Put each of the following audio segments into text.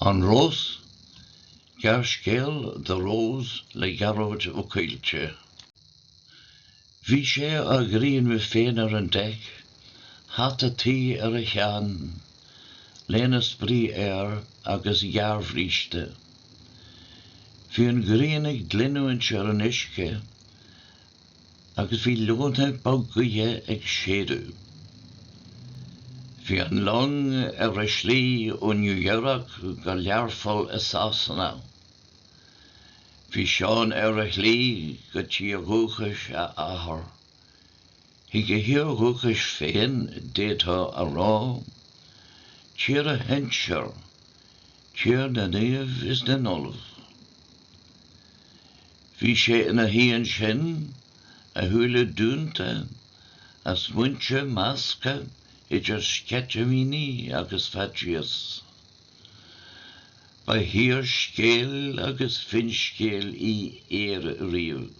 An Rós, Gearrscéal de Ros le Gearóid Ó Coillte. Bhí sé á ghrianadh féin ar an deic, hata tuí ar a cheann, léine spraoi air agus gearrbhríste. Bhí an ghrian ag glinniúint ar an uisce agus bhí leoithne bhog ghaoithe ag séideadh. Bhí an long ar a slí ó New York go Learpholl i Sasana. Bhí Seán ar a shlí go tír dúchais a athar. Chuig a thír dhúchais féin, d'fhéadfá a rá, tír a shinsear, tír na naomh is na n-ollamh. Bhí sé ina shuí ansin, a shúile dúnta, a smaointe measctha idir sceitimíní agus faitíos. Ba thír scéal agus finscéal í Éire riamh.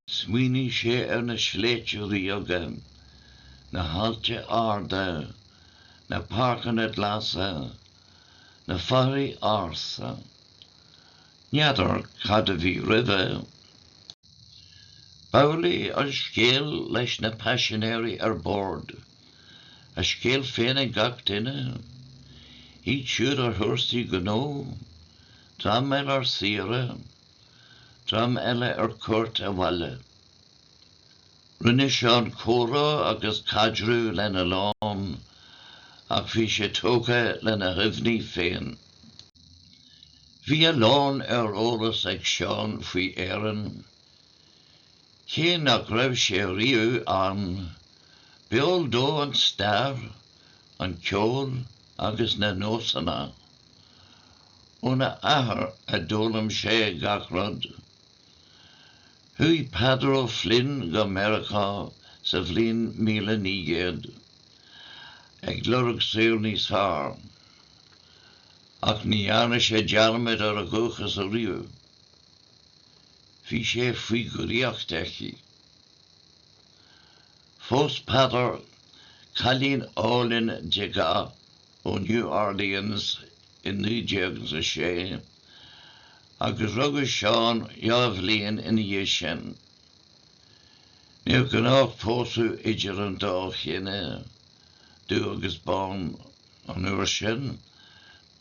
Smaoinigh sé ar na sléibhte ríoga, na hailte arda, na páirceanna glasa, na foraoisí ársa. N'fheadar cad a bhí roimhe. B'amhlaidh an scéal leis na paisinéirí ar bord, a scéal féin ag gach duine, iad siúd ar thúrsaí gnó, dream eile ar saoire, dream eile ar cuairt abhaile. Rinne Seán comhrá agus caidreamh lena lán ach bhí sé tógtha lena chuimhní féin. Bhí a lán ar eolas ag Seán faoi Éirinn, cé nach raibh sé riamh ann, b'eol dó an stair, an ceol agus na nósanna. Óna athair a d'fhoghlaim sé gach rud. Chuaigh Peadar Ó Floinn go Meiriceá sa bhliain míle naoi gcéad ag lorg saol níos fearr, ach ní dhearna sé dearmad ar a dhúchas riamh. Bhí sé faoi dhraíocht aici. Phós Peadar cailín álainn de dhath ó New Orleans i 1906, agus rugadh Seán dhá bhliain ina dhiaidh sin. Níor ghnách pósadh idir an dá chine, dubh agus bán, an uair sin,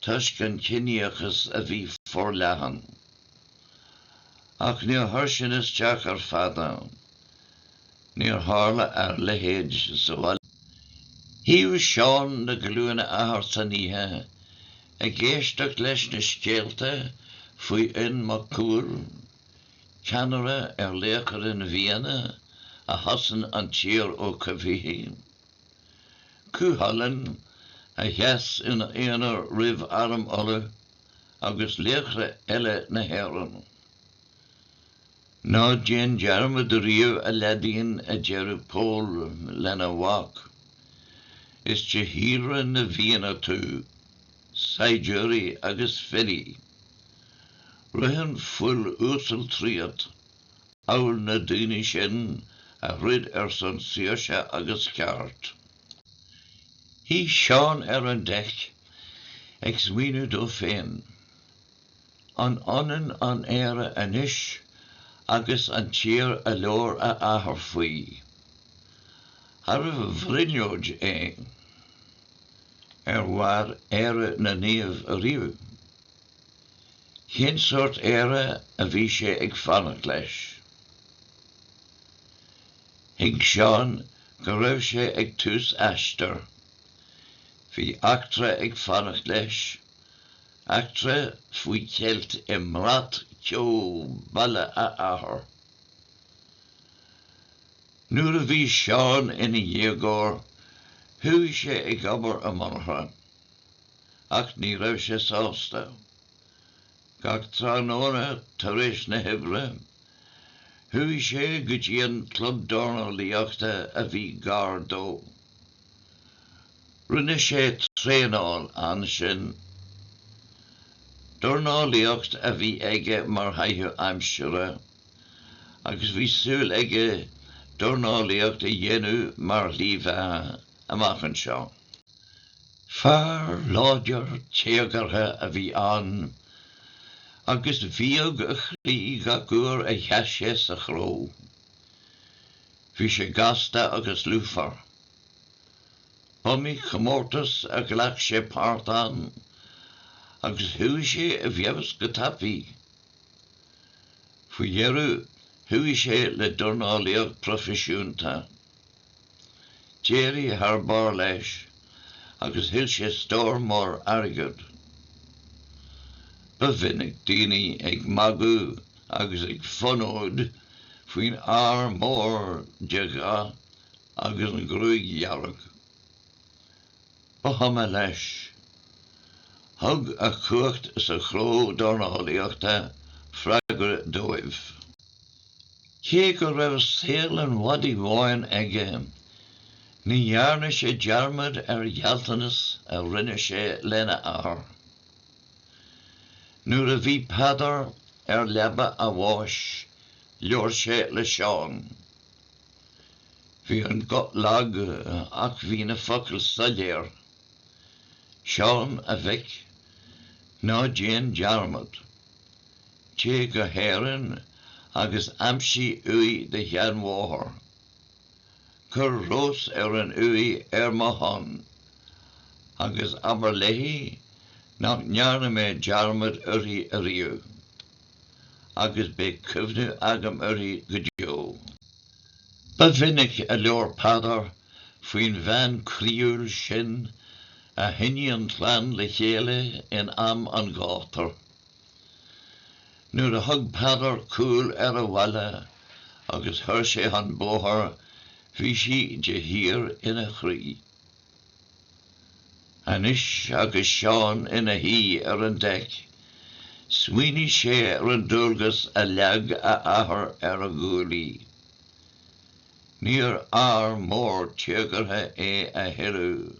toisc an ciníochas a bhí forleathan. Ach níor chuir sin isteach ar Pheadar. Níor tharla a leithéid sa bhaile. Shuíodh Seán ar ghlúine a athar san oíche ag éisteacht leis na scéalta faoi Fhionn Mac Cumhaill, ceannaire ar laochra na bhFianna a chosain an tír ó choimhthígh. Cúchulainn, a sheas ina aonar roimh arm Uladh agus laochra eile na hÉireann. Ná déan dearmad ariamh, a leaidín, a deireadh Pól lena mhac, is de shíolra na bhFianna tú, saighdiúirí agus filí. Ritheann fuil uasal tríot, amhail na daoine sin a throid ar son saoirse agus ceart. Shuigh Seán ar an deic, ag smaoineamh dó féin. An ionann an Éire anois agus an tír a labhair a athair faoi? Arbh bhrionglóid é? Ar mhair Éire na naomh ariamh? Cén sórt Éire a bhí sé ag fanacht leis? Thuig Seán go raibh sé ag tús aistir. Bhí eachtra ag fanacht leis, Eachtra faoi cheilt i mbrat ceo baile a athar. Nuair a bhí Seán ina dhéagóir, chuaigh sé ag obair i monarcha, ach ní raibh sé sásta. Gach tráthnóna tar éis na hoibre, chuaigh sé go dtí an club dornálaíochta a bhí gar dó. Rinne sé traenáil ansin. Dornálaíocht a bhí aige mar chaitheamh aimsire, agus bhí súil aige dornálaíocht a dhéanamh mar shlí bheatha amach anseo. Fear láidir téagartha a bhí ann, agus bhíog a chroí gach uair a sheas sé sa chró. Bhí sé gasta agus lúfar. B'iomaí comórtas a ghlac sé páirt ann agus chuaigh sé i bhfeabhas go tapaí. Faoi dheireadh chuaigh sé le dornálaíocht proifisiúnta. D'éirigh thar barr leis agus thuill sé stór mór airgid. Ba mhinic daoine ag magadh agus ag fonóid faoin fhear mór de dhath agus an ghruaig dhearg. Ba chuma leis. Thug a chumhacht sa chró dornálaíochta freagra dóibh. Cé go raibh saol an mhadaidh bháin aige, ní dhearna sé dearmad ar ghealltanas a rinne sé lena athair. Nuair a bhí Peadar ar leaba a bháis labhair sé le Seán. Bhí an guth lag ach bhí na focail soiléir. Seán, a mhic, ná déan dearmad. Téigh go hÉirinn agus aimsigh uaigh do sheanmháthar. Cuir rós ar an uaigh ar mo shon, agus abair léi nach ndearna mé dearmad uirthi ariamh, agus beidh cuimhneamh agam uirthi go deo. Ba mhinic a labhair Peadar faoin bhean chroíúil sin a choinnigh an chlann le chéile in am an ghátair. Nuair a thug Peadar cúl ar a bhaile agus chuir sé chun bóthair bhí sí de shíor ina chroí. Anois agus Seán ina shuí ar an deic, smaoinigh sé ar an dualgas a leag a athair ar a ghuaillí. Níor fhear mór téagartha é a thuilleadh.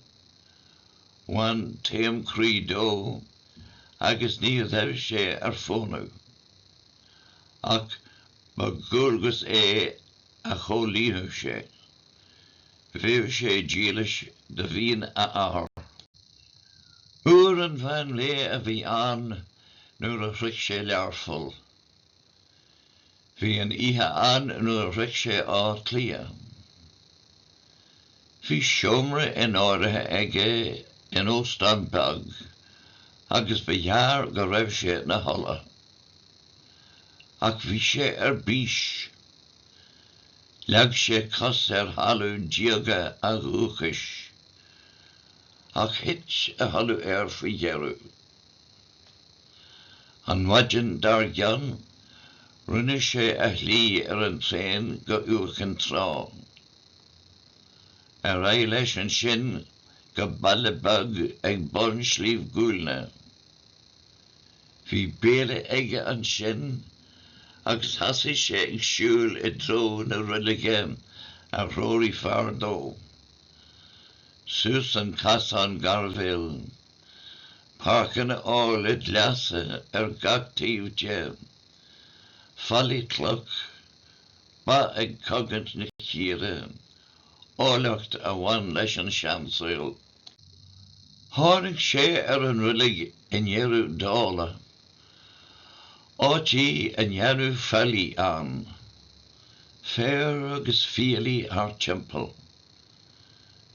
Bhain taom croí dó. agus ní raibh sé ar fónamh ach ba dhualgas é a chomhlíonfadh sé. Bhíodh sé dílis do mhian a athar. Uair an mheán lae a bhí ann nuair a shroich sé Learpholl. Bhí an oíche ann nuair a shroich sé Áth Cliath. Bhí seomra in áirithe aige in óstán beag agus ba ghearr go raibh sé ina chodladh. Ach bhí sé ar bís. Leag sé cos ar thalamh diaga a dhúchais. Ach thit a chodladh air faoi dheireadh. An mhaidin dar gcionn, rinne sé a shlí ar an traein go Iúr Cinn Trá. Ar aghaidh leis ansin go baile beag ag bun Shliabh Guailne. Bhí béile aige ansin agus thosaigh sé ag siúl i dtreo na roilige a threoraigh fear dó, suas an casán gairbhéil. páirceanna áille glasa ar gach taobh de, fallaí cloch, ba ag cogaint na círe, áilleacht a bhain leis an seansaol. Tháinig sé ar an reilig i ndeireadh dála, áit í a ndearnadh faillí ann, féar agus fiailí thar timpeall.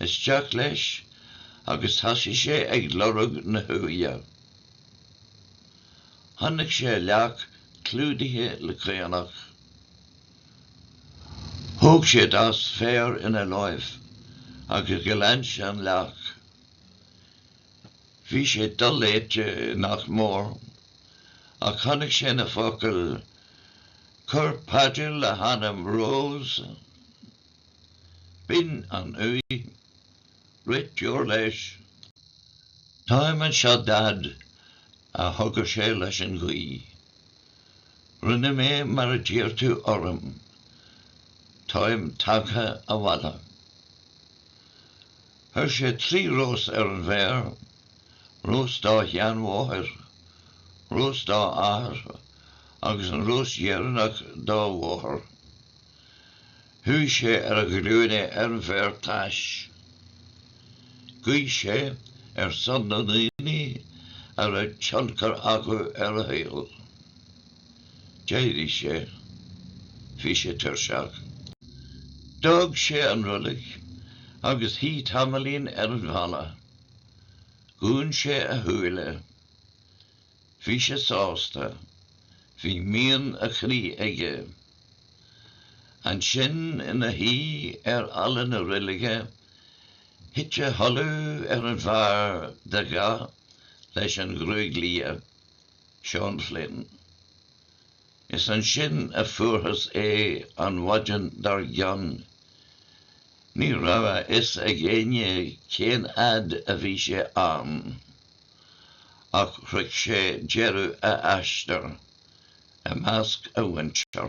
Isteach leis agus thosaigh sé ag lorg na huaighe. Chonaic sé an leac clúdaithe le caonach. Thóg sé dos féir ina láimh agus ghlan sé an leac. Bhí sé doléite nach mór, ach chonaic sé na focail Cuir paidir le hanam Rose. B'in an uaigh. Rith deoir leis. Táim anseo, Daid, a chogair sé leis an ghaoth. Rinne mé mar a d'iarr tú orm. Táim tagtha abhaile. Chuir sé trí rós ar an bhféar, rós dá sheanmháthair, rós dá athair agus an rós dheireanach dá mháthair. Chuaigh sé ar a ghlúine ar an bhféar tais. Ghuigh sé ar son na ndaoine a raibh tionchar acu ar a shaol. D'éirigh sé. Bhí sé tuirseach. D'fhág sé an roilig agus shuigh tamaillín ar an bhfalla. Dhún sé a shúile. Bhí sé sásta. Bhí mian a chroí aige. Ansin ina shuí ar fhalla na reilige, thit a chodladh ar an bhfear dea-ghléasta leis an ghruaig liath, Seán Flynn. Is ansin a fuarthas é an mhaidin dár gcionn. Ní raibh a fhios ag éinne cén fhad a bhí sé ann. ach shroich sé deireadh a aistir i measc a mhuintire.